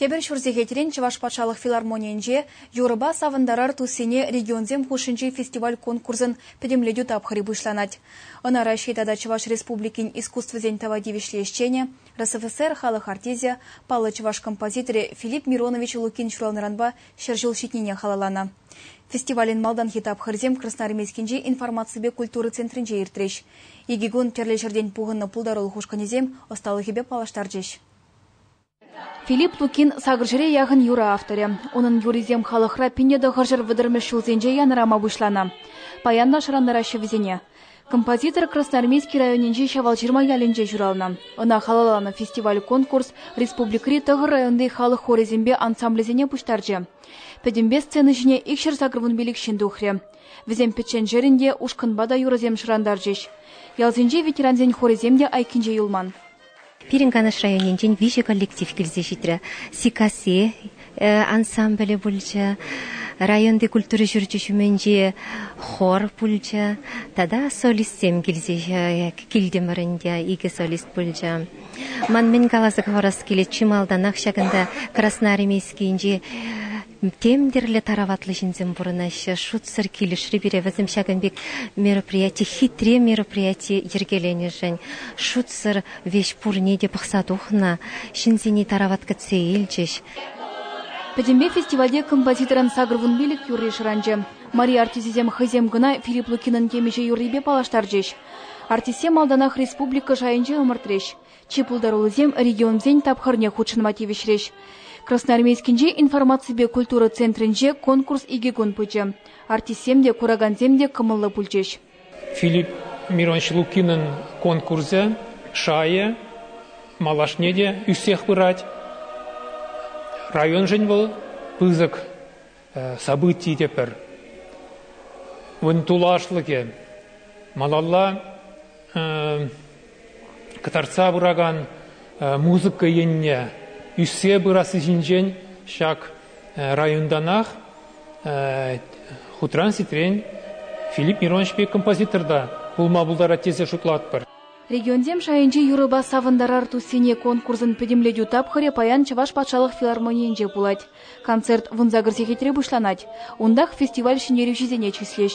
Тепӗр ҫур сехетрен Чӑваш патшалӑх филармонийӗнче Юрӑпа савӑнтарар туссене регионсем хушшинчи фестиваль-конкурсӑн пӗтӗмлетӳ тапхӑрӗ пуҫланать. Ӑна Раҫҫей тата Чӑваш Республикин искусствӑсен тава тивӗҫлӗ ӗҫченӗ, РСФСР халӑх артисчӗ, паллӑ чӑваш композиторӗ Филипп Миронович Лукин ҫуралнӑранпа ҫӗр ҫул ҫитнине халалланӑ. Фестивалӗн малтанхи тапхӑрӗсем Красноармейскинчи информаципе культура центрӗнче иртрӗҫ. Икӗ кун тӗрлӗ ҫӗртен пухӑннӑ пултарулӑх ушкӑнӗсем ӑсталӑхӗпе паллаштарчӗҫ. Филипп Лукин сакӑрҫӗре яхӑн юрӑ авторӗ. Унӑн юррисем халӑхра пинне тӑхӑрҫӗр вӑтӑрмӗш ҫулсенче янӑрама пуҫланӑ. Паянпа шӑрантараҫҫӗ вӗсене. Композитор Красноармейски районӗнчи Ҫавалҫырма ялӗнче ҫуралнӑ. Ӑна халалланӑ фестиваль-конкурс республикӑри тӑхӑр районти халӑх хорӗсемпе ансамблӗсене пуҫтарчӗ. Пӗтӗмпе сцена ҫине икҫӗр сакӑрвун пилӗк ҫын тухрӗ. Вӗсем пӗчченшерӗн те ушкӑнпа та юрӑсем шӑрантарчӗҫ. Ялсенчи ветерансен хорӗсем те айккинче юлман. Пирӗн Канаш районӗнчен виҫӗ коллектив килсе ҫитрӗ. Сиккасси ансамблӗ пулчӗ, районти культура ҫурчӗ ҫумӗнчи хор пулчӗ тата солистсем килсе килтӗмӗр ӗнтӗ, икӗ солист пулчӗ. Ман мӗн каласа хӑварас килет, чи малтанах ҫакӑнта Красноармейскинчи Тем тӗрлӗ тараватлӑ ҫынсем пурӑнаҫҫӗ. Шутсӑр килӗшрӗ пире вӗсем ҫакӑн пек мероприяти, хитре мероприяти йӗркеленӗшӗн. Шутсӑр веҫ пурне те пӑхса тухнӑ, ҫынсене тарават кӗтсе илчӗҫ. Пӗтӗмпе фестивальте композиторӑн сакӑр вун пилӗк юрри шӑранчӗ. Мари артисӗсем хӑйсем кӑна Филипп Лукинӑн темиҫе юррипе паллаштарчӗҫ. Артистсем малтанах республика шайӗнче ӑмӑртрӗҫ. Чи пултаруллисем регионсен тапхӑрне хутшӑнма тивӗҫрӗҫ. Красноармейскинчи информаципе культура центрӗнче конкурс икӗ кун пычӗ. Артистсем те, куракансем те кӑмӑллӑ пулчӗҫ. Филипп Миронович Лукинӑн конкурсӗ шайӗ малашне те ӳссех пырать. Районшӑн вӑл пысӑк событий те пӗр. Ун тулашлӑхӗ малалла кӑтартса пыракан музыка енне ӳссе пырасси ҫинчен ҫак районтанах хутран-ситрен Филипп Мироновичпе композитор та пулма пултарать тесе шутлатпӑр. Регионсем шайӗнчи юрӑпа савӑнтарар туссене конкурсӑн пӗтӗмлетӳ тапхӑрӗ паян Чӑваш патшалӑх филармонийӗнче пулать. Концерт вунсакӑр сехетре пуҫланать. Унтах фестиваль ҫӗнтерӳҫисене чыслӗҫ.